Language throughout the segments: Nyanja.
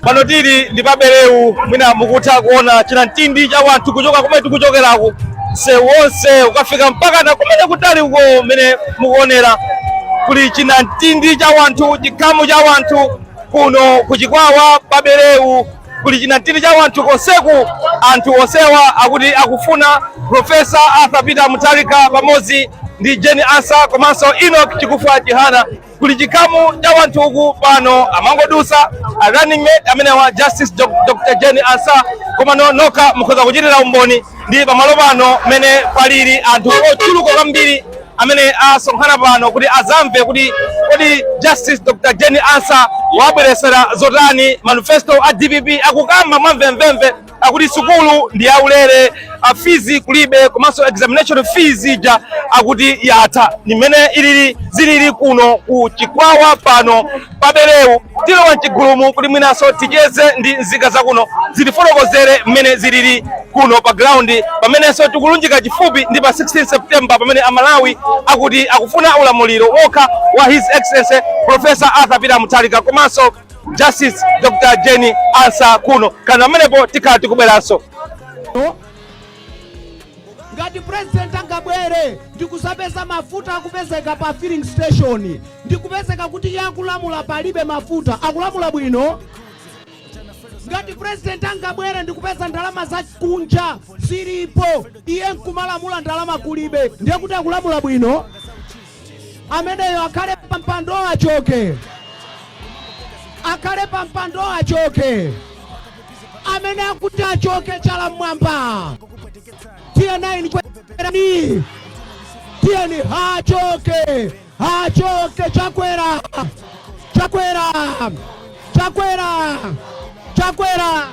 pano tili ndi pa bereu mwina mukutha kuona chinamtindi cha wanthu kuchoka kumene tikuchokeraku msewu wonse ukafika mpaka na kumene kutali uko umene mukuonera kuli chinamtindi cha wanthu chikhamu cha wanthu kuno ku chikwawa pa bereu kuli chinamtindi cha wanthu konseku anthu onsewa akuti akufuna profesa arthur peter mutharika pamodzi ndi jane ansah komanso enoch chakufwa chihana kuli chikhamu cha wanthu uku pano amangodusa a running mate amenewa justice Doc- dr jane ansah komano nokha mukhoza kuchitira umboni ndi pamalo pano mene palili anthu ochuluka kwambiri amene asonkhana pano kuti azamve kuti kodi justice dr jane ansah wabweresera zotani manifesto a dpp akukamba mwamvemvemve akuti sukulu ndi yaulere a fees kulibe komanso examination fees ija akuti yatha ndi mmene ilili zilili kuno ku chikwawa pano pa bereu tilowa mchigulumu kuti mwinanso ticheze ndi nzika zakuno zitifotokozere mmene zilili kuno pa ground pamenenso tikulunjika chifupi ndi pa 16 september pamene amalawi akuti akufuna ulamuliro wokha wa his excellency professor arthur peter mutharika komanso Justice Dr. Jane Ansah kuno kana mmenepo tikhala tikubweranso ngati president angabwere ndikuzapeza mafuta akupezeka pa filling station ndikupezeka kuti iye akulamula palibe mafuta akulamula bwino ngati president angabwere ndikupeza ndalama za kunja zilipo iye nkumalamula ndalama kulibe ndiye kuti akulamula bwino ameneyo akhale pa mpando achoke akhale pa mpando achoke amene akuti achoke chala mmwamba tiyeni kwerani tiyeni achoke achoke chakwera chakwera chakwera chakwera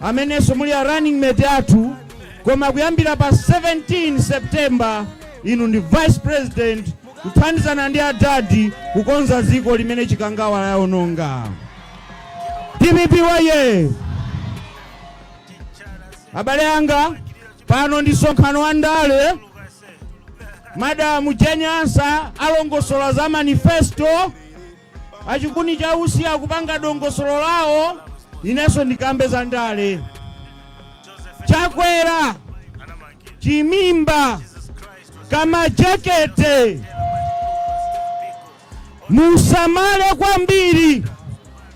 amenenso muli a running mate athu koma kuyambira pa 17 September inu ndi vice president kuthandizana ndi adadi kukonza dziko limene chikangawa laononga dpp woye abale anga pano ndi msonkhano wa ndale madamu jane ansah alongosola za manifesto A chikuni cha usi akupanga dongosolo lawo, inenso ndikambe za ndale. Chakwera, chimimba, kamajekete, musamale kwambiri,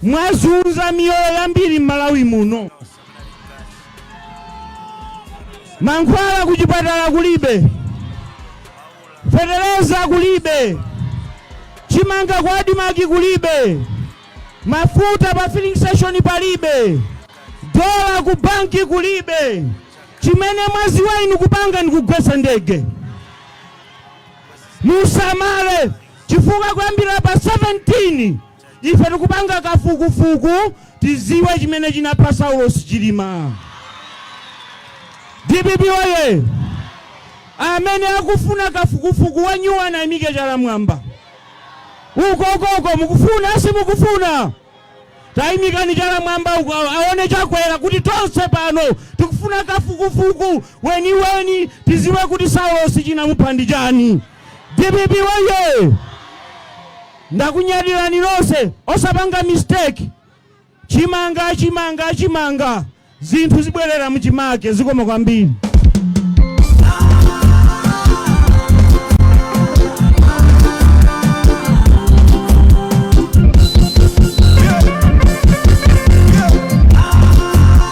mwazunza miyoyo yambiri m'Malawi muno. mankhwala kuchipatala kulibe fetereza kulibe chimanga kwa adimaki kulibe mafuta pa filling station palibe dola ku banki kulibe chimene mwadziwa inu kupanga ni kugwesa ndege musamale chifukwa kuyambira pa 17 Ife tikupanga kafukufuku tiziwe chimene chinapha Saulos Chilima. Dpp woyee! Amene akufuna kafukufuku wanyuwani ayimike chala mwamba. Uko uko mukufuna simukufuna? Tayimikani chala mwamba uko aone Chakwera kuti tonse pano tikufuna kafukufuku weniweni tiziwe kuti Saulos chinamupha ndi chani. Dpp woyee! Ndakunyadilani nonse osapanga mistake chimanga chimanga chimanga zinthu zibwerera muchimake zikomo kwambiri.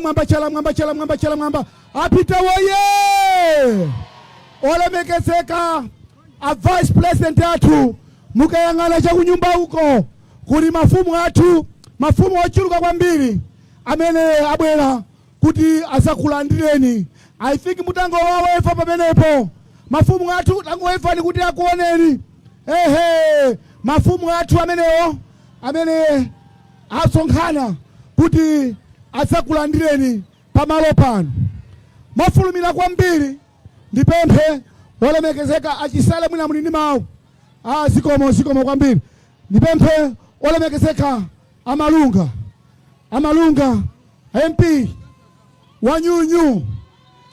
mwamba chala mwamba chala mwamba chala mwamba APM woye olemekezeka a vice president athu Mukayang'ana cha kunyumba uko, kuli mafumu athu, mafumu ochuluka kwambiri amene abwera kuti adzakulandireni. I think mungowaweva pamenepo, mafumu athu tangowevani kuti akuoneni. Ehe, mafumu athu amenewo amene asonkhana kuti adzakulandireni pamalo pano mofulumira kwambiri. Ndipemphe olemekezeka a Chisale mwina muli ndi mawu. A zikomo, zikomo kwambiri. Ndipemphe olemekezeka a Malunga, a Malunga MP wanyuuu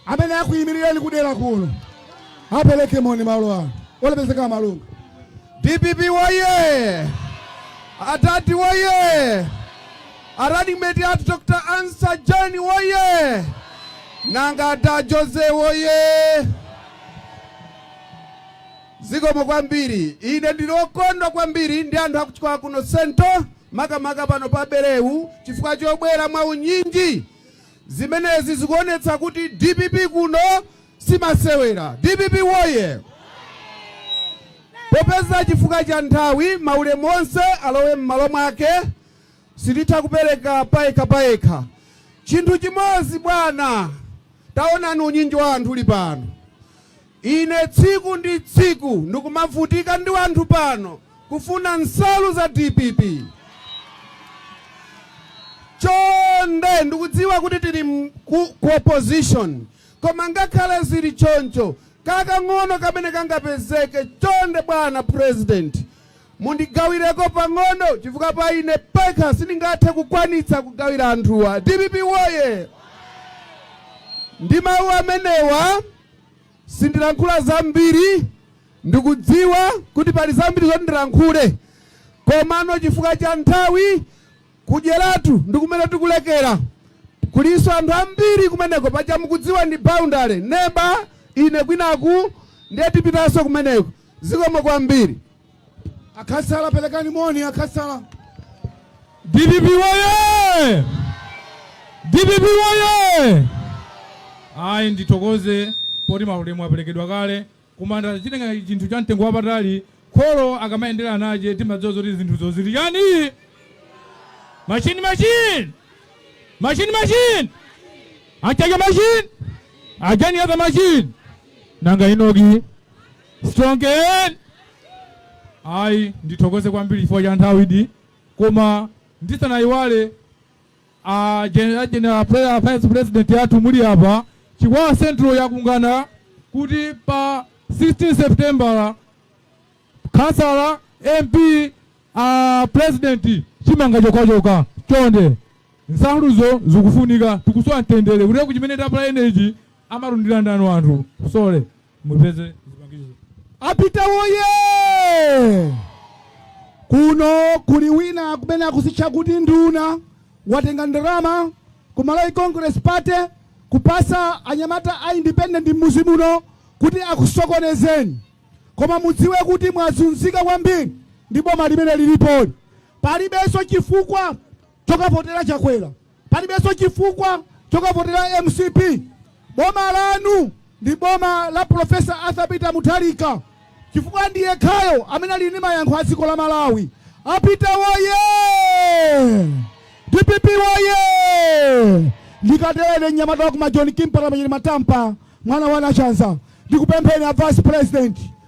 amene akuyimirireni kudera kuno apereke moni malo ano. Olemekezeka a Malunga. DPP woye! Adadi woye! A running mate athu Dr Ansah Jane woyee! Nanga a Da Jose woyee! Zikomo kwambiri. Ine ndili okondwa kwambiri ndi anthu aku Chikwawa kuno Central makamaka pano pa Berewu chifukwa chobwera mwa unyinji. Zimenezi zikuonetsa kuti dpp kuno simasewera. Dpp woyee! Popeza chifukwa cha nthawi maulemu onse alowe mmalo mwake sititha kupereka payekha payekha. Chinthu chimodzi, bwana, taonani unyinji wa anthu uli pano. Ine tsiku ndi tsiku ndikumavutika ndi anthu pano kufuna nsalu za dpp. Chonde, ndikudziwa kuti tili ku, ku opposition koma ngakhale zili choncho kakang'ono kamene kangapezeke, chonde bwana president, Mundigawireko pang'ono chifukwa pa ine pekha sindingathe kukwanitsa kugawira anthuwa. Dpp woye! Ndi mawu amenewa sindilankhula zambiri. Ndikudziwa kuti pali zambiri zoti ndilankhule komano chifukwa cha nthawi ku Dyeratu ndi kumene tikulekera. Kulinso anthu ambiri kumeneko, paja mukudziwa ndi boundary, neba ine kwinaku ndiye tipitanso kumeneko. Zikomo kwambiri. A khansala pelekani moni a khansala. Dpp woye! Dpp woye! Ayi ndithokoze poti maulemu apelekedwa kale koma ndachitenga chinthu cha mtengo wapatali kholo akamayendera ana ache timadziwa zoti zinthuzo zili chani machine machine machine machine a Mchacha machine a Jane Ansah machine nanga inoki Strongeni. Ayi, ndithokoze kwambiri chifukwa cha nthawidi koma ndisanayiwale a general, general prayer vice president yathu muli apa chikwawa central yakungana kuti pa 16 september khansala mp a president chimanga chokachoka chonde nsaluzo zikufunika tikusowa mtendere kuti kuchimene tapula energy amalandira ndani anthu sole mupeze zipangizo a Peter woye kuno kuli wina kumene akuzitcha kuti nduna watenga ndalama ku malawi congress party kupatsa anyamata a independent mmuzi muno kuti akusokonezeni koma mudziwe kuti mwazunzika kwambiri ndi boma limene lilipoli palibenso chifukwa chokavotera Chakwera, palibenso chifukwa chokavotera MCP. Boma lanu ndi boma la Prof. Arthur Peter Mutharika chifukwa ndi yekhayo amene ali ndi mayankho a dziko la Malawi. A Peter woyee! DPP woyee! Ndikatere mnyamata wa kuma John Kimpala Manyeni Matampa mwana wa Nachanza ndikupempheni a Vice President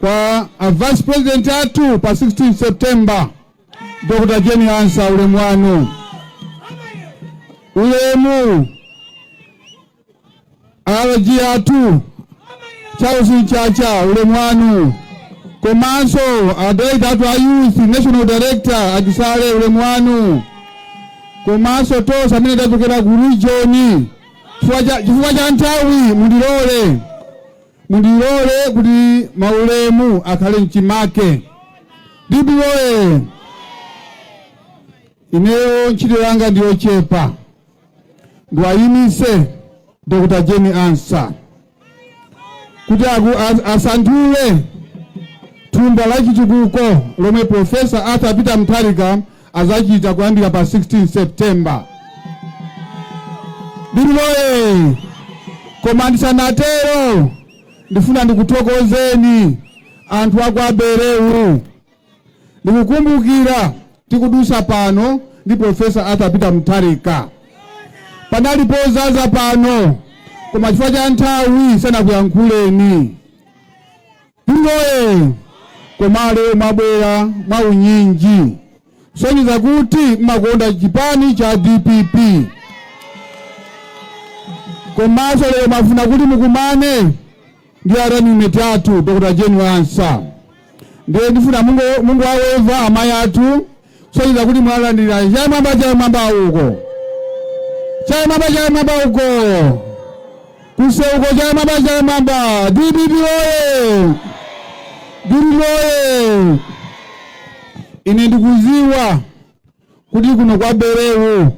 kwa a Vice President athu pa 16 September Dr Jane Ansah ulemu wanu ulemu RG athu Charles Mchacha ulemu wanu komanso a director athu a youth national director a Chisale ulemu wanu komanso tonse amene tachokera ku region chifukwa cha nthawi mundilole Mundilole kuti maulemu akhale mchimake. DPP woye! Ineyo ntchito yanga ndi yochepa, ndiwayimise Dr. Jane Ansah kuti asanthule thumba la chitukuko lomwe Profesa Arthur Peter Mutharika azachita kuyambira pa 16 September. DPP oye! Koma ndisanatero ndifuna ndikuthokozeni anthu a kwa Belewu. Ndikukumbukira tikudutsa pano ndi Profesa Arthur Peter Mutharika. Panali podzaza pano koma chifukwa cha nthawi sanakuyankhuleni. Oye koma lero mwabwera mwaunyinji kusonyeza kuti mmakonda chipani cha DPP komanso lero mwafuna kuti mukumane ndi a running mate athu Dr. Jane Ansah ndiye ndifuna mungowaweva amayi athu kusonyeza kuti mwalandira chamwamba chamwamba uko chamwamba chamwamba uko kuseuko chamwamba chamwamba DPP oye DPP oye ine ndikuziwa kuti kuno kwa Belewu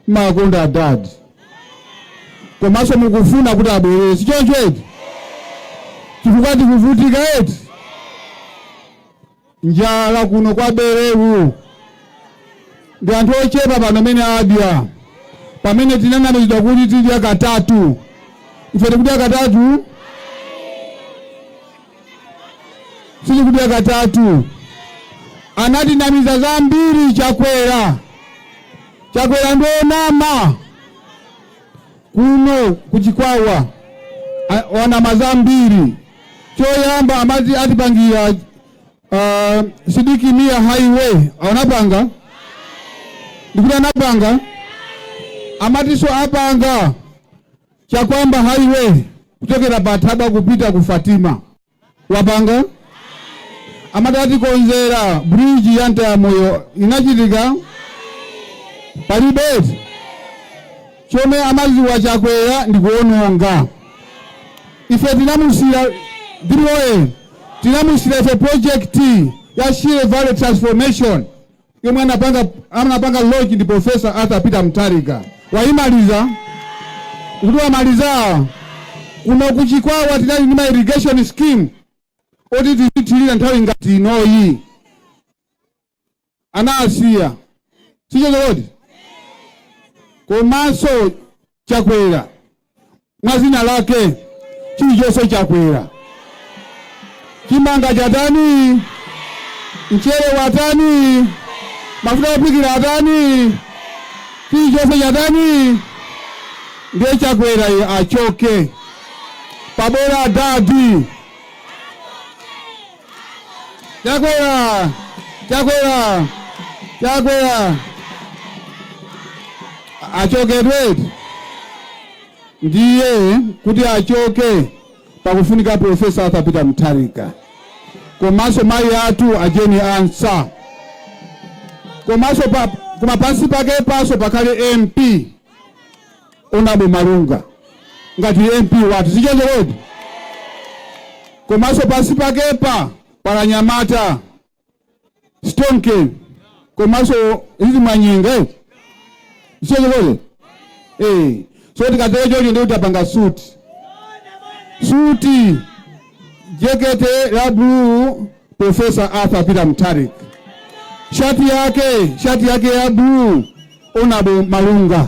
mmakonda adadi komanso mukufuna kuti abwerere sichoncho eti chifukwa tikuvutika eti njala kuno kwa Belewu ndi anthu ochepa pano amene adya pamene tinanamizidwa kuti tidya katatu ife tikudya katatu sitikudya katatu anatinamiza zambiri Chakwera Chakwera ndi onama Kuno ku Chikwawa wanama zambiri. Choyamba amati atipangira uh, Sidiki Mia highway anapanga ndikuti anapanga amatiso apanga chakwamba highway kuchokera pa Thabwa kupita ku Fatima wapanga amati atikonzera bridge ya Mtayamoyo inachitika palibe eti chomwe amaziwa chakwera ndi kuononga ife tinamusira ndiloye tinamusira ife project ya shire valley transformation yomwe anapanga anapanga launch ndi Professor Arthur Peter Mutharika. Wayimaliza? Kuti wamaliza? Kuno ku Chikwawa tinali ndi ma irrigation scheme oti tizithirira nthawi ngati inoyi. Anasiya. Sichoncho kodi? Komanso chakwera mwa zina lake chilichonse chakwera chimanga chatani mchere watani mafuta ophikira atani chilichonse chatani ndiye chakwera iye achoke pabwera adadi Chakwera achokedi ndiye kuti achoke pakufunika profesa Arthur Peter Mutharika komanso mayi athu a Jane Ansah komanso koma pansi pakepaso pakhale MP Honourable Malunga ngati MP wathu sichoncho kodi? Komaso pansi pakepa pali anyamata Stonke komaso Lili Manyinga eh? Sichoncho kodi? Eh. So tikatero ndiye tapanga suti suti jekete ya blue Professor Arthur Peter Mutharika sha- shati yake ya blue Honourable Malunga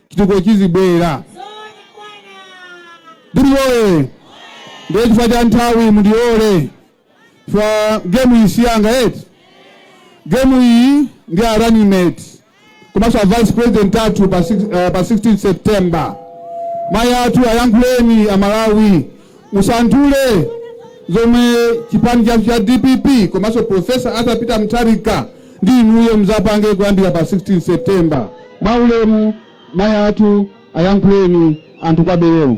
chitukuko chizibwera. Biri oye! Ndiye chifukwa cha nthawi mundilole chifukwa gemu iyi si yanga eti. Gemu iyi ndi a running mate komanso a vice president athu pa 16 September. Mayi athu ayankhuleni Amalawi Musanthule zomwe chipani chathu cha dpp komanso Professor Arthur Peter Mutharika ndi inuyo mudzapange kuyambira pa 16 September. Mwaulemu mayi athu ayankhuleni anthu kwa Bereu.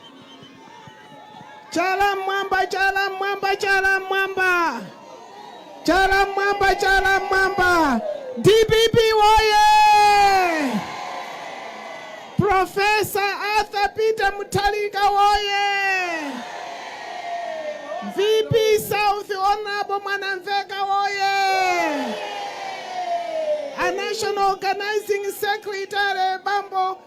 Chala mmwamba, chala mmwamba, chala mmwamba, chala mmwamba, chala mmwamba. DPP woye! Profesa Arthur Peter Mutharika woye! VP South Honorable Mwanamveka woye! A National Organizing Secretary Bambo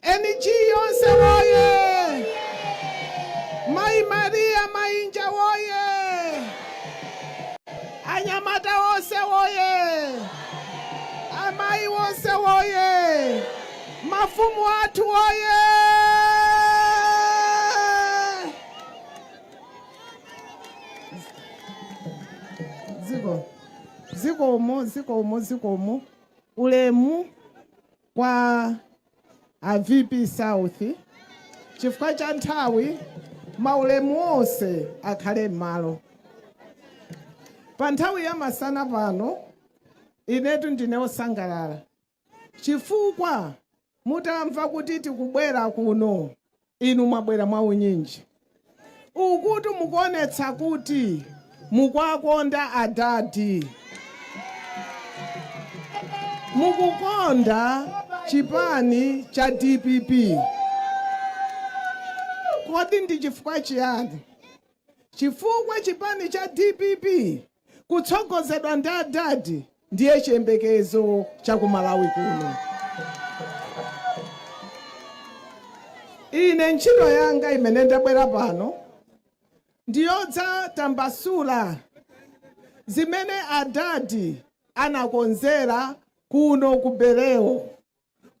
NGC yonse woyee! Mayi Maria Mainja woyee! Anyamata onse woyee! Amayi wonse woyee! Mafumu athu woyee! Zikomo, zikomo, zikomo, zikomo. Ulemu. kwa a VP South chifukwa cha nthawi maulemu onse akhale m'malo pa nthawi ya masana pano inetu ndine osangalala chifukwa mutalamva kuti tikubwera kuno Inu mwabwera mwa unyinji. Ukuti mukuonetsa kuti mukwakonda adadi. Mukukonda chipani cha dpp. Kodi ndi chifukwa chiyani? Chifukwa chipani cha dpp kutsogozedwa ndi adadi ndiye chiyembekezo cha ku malawi kuno ine ntchito yanga imene ndabwera pano ndiyodzatambasula zimene adadi anakonzera kuno ku Bereu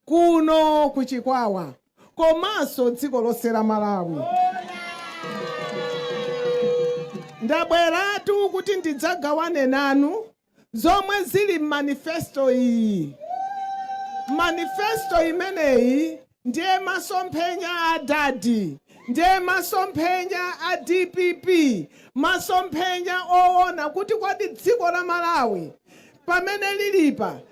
kuno ku Chikwawa komanso dziko lonse la Malawi. Ndabweratu kuti ndidzagawane nanu zomwe zili m'manifesto iyi. Manifesto imeneyi ndiye masomphenya a adadi, ndiye masomphenya a dpp, masomphenya owona kuti kodi dziko la Malawi pamene lilipa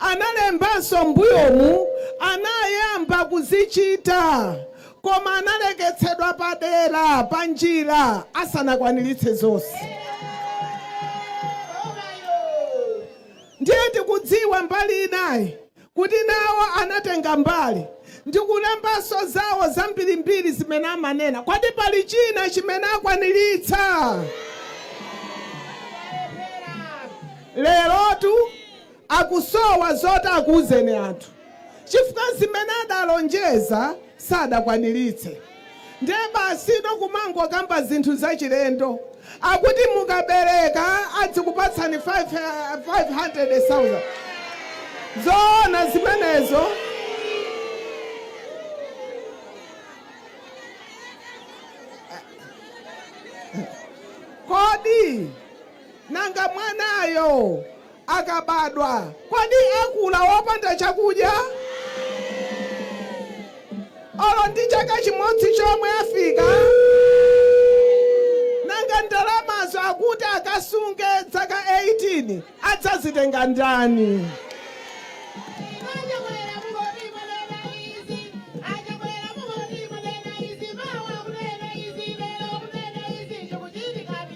Analembanso m'mbuyomu anayamba kuzichita koma analeketsedwa padera panjira asanakwaniritse zonse. Ndiye tikudziwa mbali inayi kuti nawo anatenga mbali ndi kulembanso zawo zambirimbiri zimene amanena. Kodi pali china chimene akwaniritsa? Lerotu akusowa zoti akuuzeni anthu chifukwa zimene adalonjeza sadakwaniritse ndiye basi no kumangokamba zinthu zachilendo akuti mukabereka adzikupatsani 500000 zoona zimenezo kodi Nanga mwanayo akabadwa, kodi akula wopanda chakudya? Olo ndi chaka chimodzi chomwe afika? Nanga ndalamazo akuti akasunge dzaka 18 adzazitenga ndani? Achakwera mungoti mwanena izi, Achakwera mungoti mwanena izi, mawa munena izi, lero munena izi, zikuchitika ndi.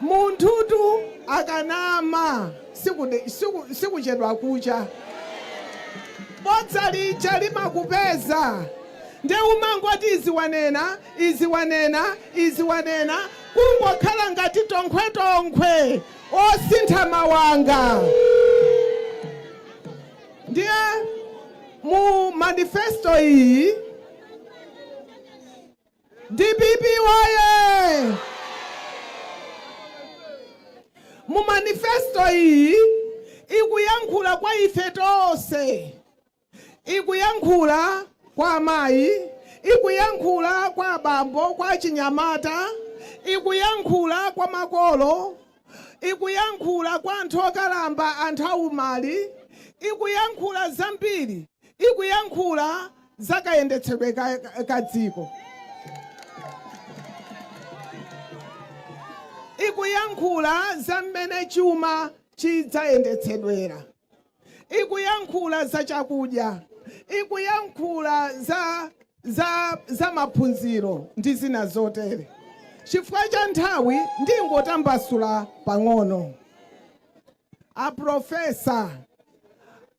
Munthutu akanama sikuchedwa kucha. Bodza lija limakupeza nde umangoti izi wanena izi wanena izi wanena kungokhala ngati tonkhwetonkhwe osintha mawanga. Ndiye mu manifesto iyi. Dpp woyee! Mu manifesto iyi ikuyankhula kwa ife tonse, ikuyankhula kwa amayi, ikuyankhula kwa abambo, kwa achinyamata, ikuyankhula kwa makolo, ikuyankhula kwa anthu okalamba, anthu aumali, ikuyankhula zambiri, ikuyankhula za kayendetsedwe ka, ka dziko, ikuyankhula za mmene chuma chidzayendetsedwera. ikuyankhula za chakudya, ikuyankhula za, za, za maphunziro ndi zina zotere. Chifukwa cha nthawi ndingotambasula pang'ono. Aprofesa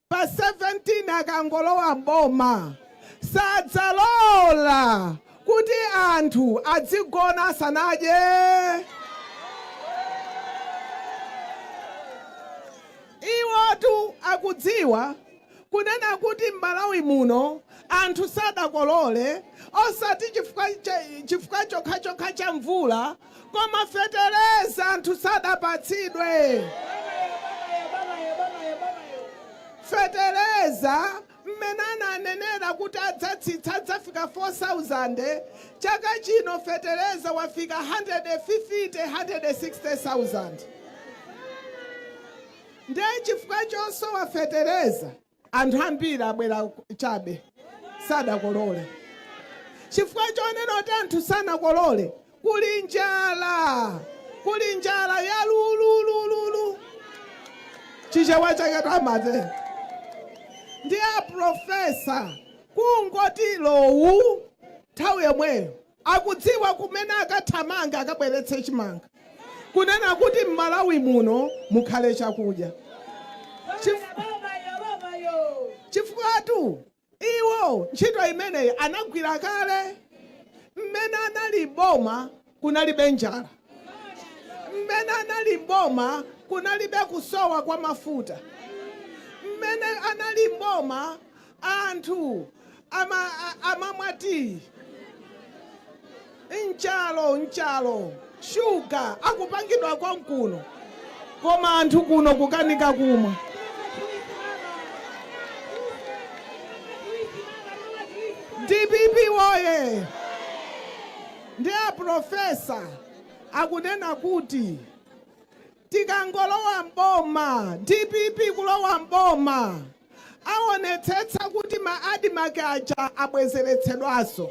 pa 17 akangolowa m'boma sadzalola kuti anthu adzigona asanadye. Iwotu akudziwa kunena kuti m'Malawi muno anthu sadakolole osati chifukwa chifukwa chokhachokha cha mvula koma fetereza anthu sadapatsidwe. Fetereza mmene ananenera kuti adzatsitsa adzafika 4000 chaka chino fetereza wafika hundred-fifty, hundred-sixty-thousand ndiye chifukwa chosowa fetereza anthu ambiri abwera chabe sadzakolola chifukwa chonena kuti anthu sanakolole Kuli njala! Kuli njala ya lululululu! Chichewa chake twamate. Nde a professor kungoti lowu nthawi yomweyo akudziwa kumene akathamanga akabweretse chimanga kunena kuti m'Malawi muno mukhale chakudya. Chif- Chifukwatu Iwo ntchito imeneyi anagwira kale. Mmene anali m'boma kunalibe njala. Mmene anali m'boma kunalibe kusowa kwa mafuta. Mmene anali m'boma anthu ama, a, amamwa tiyi. Nchalo nchalo sugar akupangidwa konkuno koma anthu kuno kukanika kumwa. DPP woyee! Nde a professor akunena kuti Tikangolowa m'boma, DPP kulowa m'boma, awonetsetsa kuti ma ADMARC aja abwezeretsedwaso.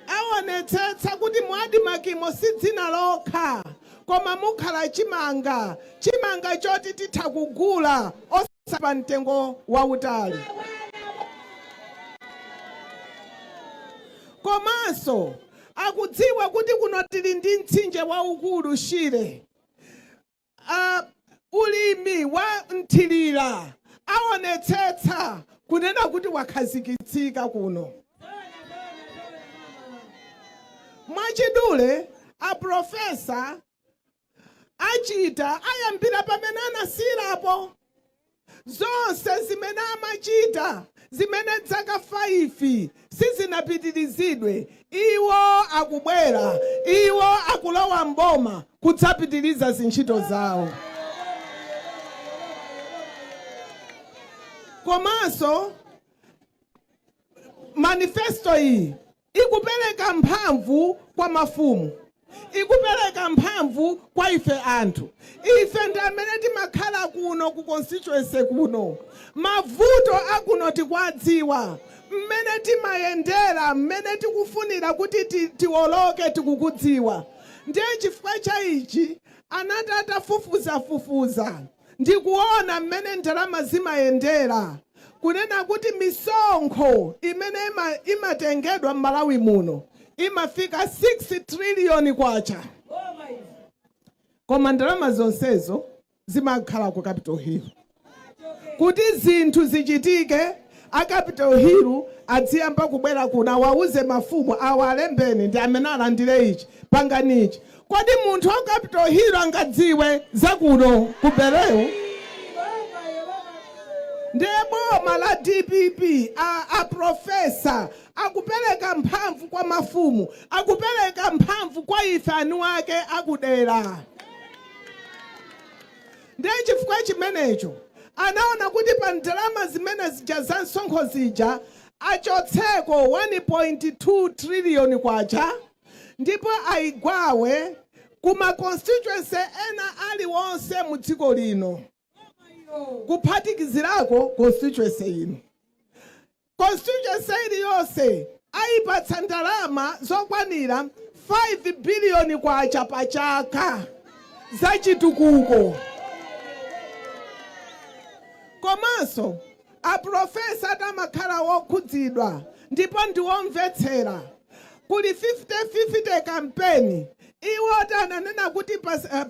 Awonetsetsa kuti mu ADMARC mo si dzina lokha koma mukhala chimanga, chimanga choti titha kugula osati. si pa mtengo wautali. Komanso akudziwa kuti kuno tili ndi mtsinje waukulu Shire. Ah, ulimi wa mthirira aonetsetsa kunena kuti wakhazikitsika kuno. Mwachidule, a profesa achita ayambira pamene anasiyilapo zonse zimene amachita zimene dzaka 5 sizinapitirizidwe iwo akubwera iwo akulowa mboma kudzapitiriza zintchito zawo komanso manifesto iyi Ikupereka mphamvu kwa mafumu. Ikupereka mphamvu kwa ife anthu. Ife ndi amene timakhala kuno ku constituency kuno. Mavuto a kuno tikuwadziwa. Mmene timayendera, mmene tikufunira kuti tiwoloke tikukudziwa. Ndiye chifukwa cha ichi anati atafufuzafufuza. ndi kuona mmene ndalama zimayendera, kunena kuti misonkho imene imatengedwa m'Malawi muno imafika 6 trillion kwacha. Koma ndalama zonsezo zimakhala ku Capital Hill. Kuti zinthu zichitike, a Capital Hill adziyamba kubwera kuno, awauze mafumu awa, alembeni ndi amene alandire ichi, pangani ichi. Kodi munthu wa capital hill angadziwe za kuno ku bereu? Ndiye boma la dpp aprofesa akupeleka mphamvu kwa mafumu akupeleka mphamvu kwa ife anuwake akudera ndiye chifukwa chimenecho anaona kuti pa ndalama zimene zija za msonkho zija achotseko 1.2 triliyoni kwacha ndipo ayigawe ku ma constituency ena aliwonse mu dziko lino kuphatikizirako constituency yino. Constituency iliyonse ayipatsa ndalama zokwanira 5 billion kwacha pa chaka za chitukuko komanso Aprofesa Arthur amakhala wokhudzidwa ndipo ndi womvetsera. Kuli 50 50 kampeni iwotu ananena kuti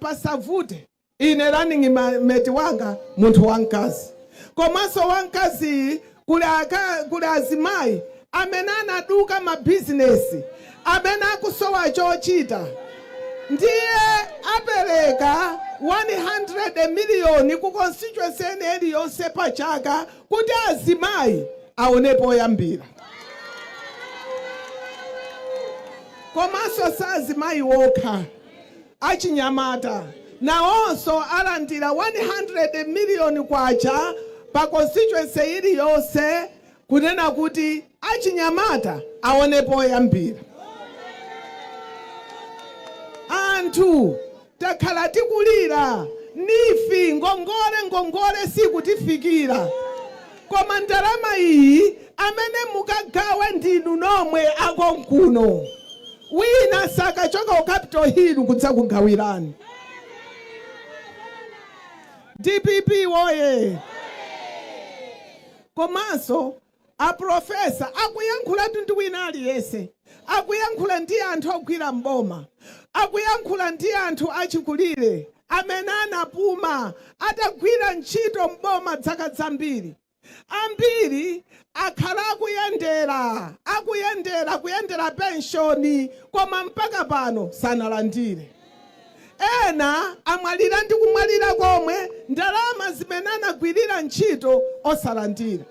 pasavute. Ine running mate wanga munthu wamkazi komanso wamkaziyi kuli azimayi amene anaduka mabizinesi amene akusowa chochita ndiye apereka 100 miliyoni ku constituency ina iliyonse pa chaka kuti azimayi aone poyambira. Komanso si azimayi okha, achinyamata nawonso alandira 100 miliyoni kwacha pa constituency iliyonse kunena kuti achinyamata aone poyambira. Anthu takhala tikulira NEEF ngongole ngongole sikutifikira koma ndalama iyi amene mukagawe ndinu nomwe akonkuno wina sakachoka ku capital hill kudzakugawirani. Dpp woye! Komanso, apulofesa akuyankhulatu ndi wina aliyense, akuyankhula ndi anthu ogwira m'boma, akuyankhula ndi anthu achikulire amene anapuma atagwira ntchito m'boma dzaka zambiri. Ambiri akhala akuyendera, akuyendera, kuyendera penshoni, koma mpaka pano sanalandire. Ena amwalira ndi kumwalira komwe ndalama zimene anagwirira ntchito osalandira.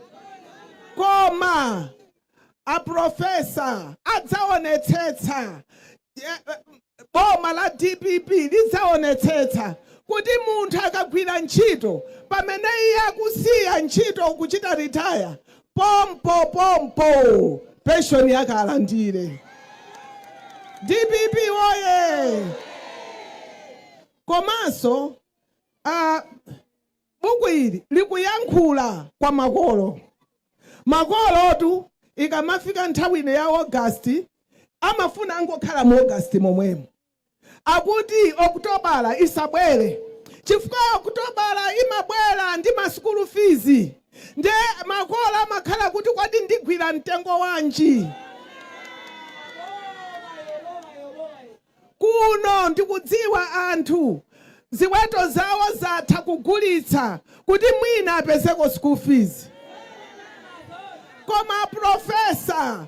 Koma a Professor adzaonetsetsa, boma la dpp lidzaonetsetsa kuti munthu akagwira ntchito pamene iye akusiya ntchito kuchita retire, pompo pompo pension yake alandire dpp woye komanso uh, buku ili likuyankhula kwa makolo makolotu ikamafika nthawi ino ya augasti amafuna angokhala mu augasti momwemo Akuti Okutobala isabwere chifukwa Okutobala imabwera ndi ma school fees nde makolo amakhala kuti kodi ndigwira mtengo wanji kuno ndikudziwa anthu ziweto zawo zatha kugulitsa kuti mwina apezeko school fees koma a professor